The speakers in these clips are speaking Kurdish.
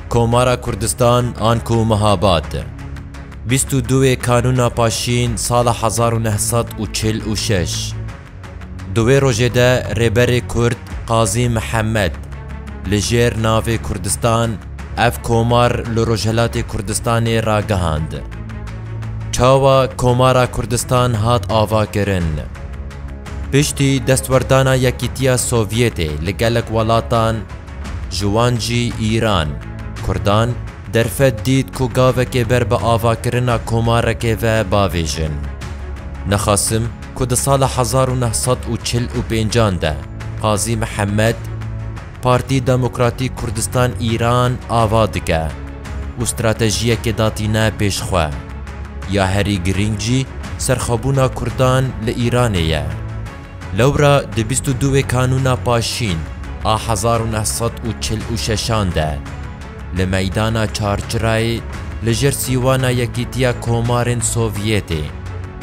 Komara Kurdistan an ku Mihabad bîst û du wê Kanûna Paşîn sala hezar û neh sed û çil û şeş di wê rojê de Rêberê Kurd Qazî Mihemed li jêr navê Kurdistan ev komar li Rojhilatê Kurdistanê ragihand. Çawa Komara Kurdistan hat avakirin? Piştî destwerdana Yekîtiya Sovyetê li gelek welatan Ji wan jî Îran, Kurdan derfet dît ku gavekê ber bi avakirina komarekê ve bavêjin. Nexasim ku di sala hezar û neh sed û çil û pêncan de Qazî Mihemed, Partî Demokratîk Kurdistan Îran ava dike û stratejiyekê datîne pêş xwe. Ya herî girîng jî serxwebûna Kurdan li Îranê ye. Lewra di bîst û duwê kanûna paşîn a hezar û neh sed û çil û şeşan de li meydana Çarçirayê li jêr sîwana Yekîtiya Komarên Sovyetê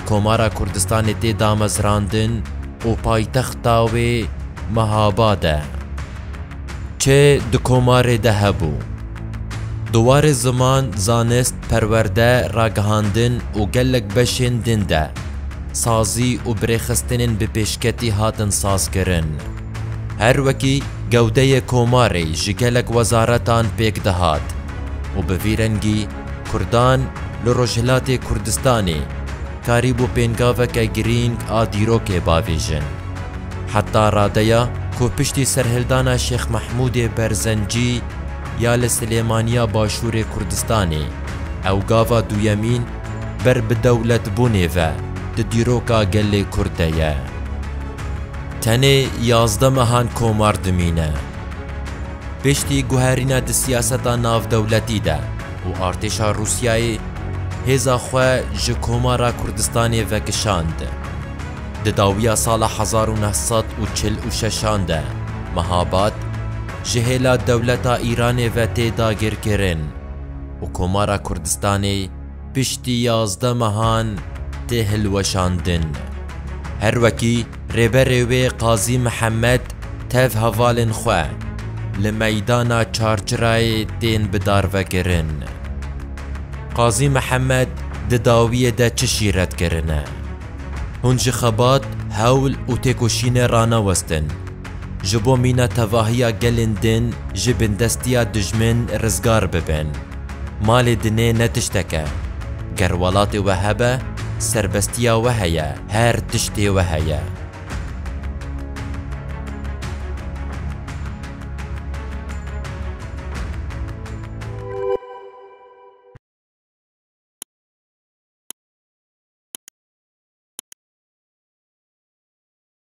Komara Kurdistanê tê damezrandin û paytexta wê Mehabad e. Çi di komarê de hebû? Di warê ziman, zanist, perwerde, ragihandin û gelek beşên din de sazî û birêxistinên bi pêşketî hatin sazkirin. Her wekî gewdeyê komarê ji gelek wezaretan pêk dihat û bi vî rengî Kurdan li Rojhilatê Kurdistanê karîbû pêngaveke girîng a dîrokê bavêjin. Heta radeya ku piştî serhildana Şêx Mehmûdê Berzencî, ya li Silêmaniya Başûrê Kurdistanê, ew gava duyemîn ber bi dewletbûnê ve di dîroka gelê Kurd de ye. Tenê yazdeh mehan komar dimîne. Piştî guherîna di siyaseta navdewletî de û artêşa Rûsyayê hêza xwe ji Komara Kurdistanê vekişand. Di dawiya sala hezar û neh sed û çil û şeşan de Mehabat, ji hêla dewleta Îranê ve tê dagirkirin û Komara Kurdistanê piştî yazdeh mehan tê hilweşandin. Her wekî rêberê wê Qazî Mihemed tev hevalên xwe li meydana Çarçirayê tên bidarvekirin. Qazî Mihemed di dawiyê de çişî red kirine? Hûn ji xebat, hewl û têkoşînê ranewestin. Ji bo mîna tevahiya gelên din ji bindestiya dijmin rizgar bibin. Malê dinê ne tiştek e. Ger welatê we hebe, serbestiya we heye, her tiştê we heye.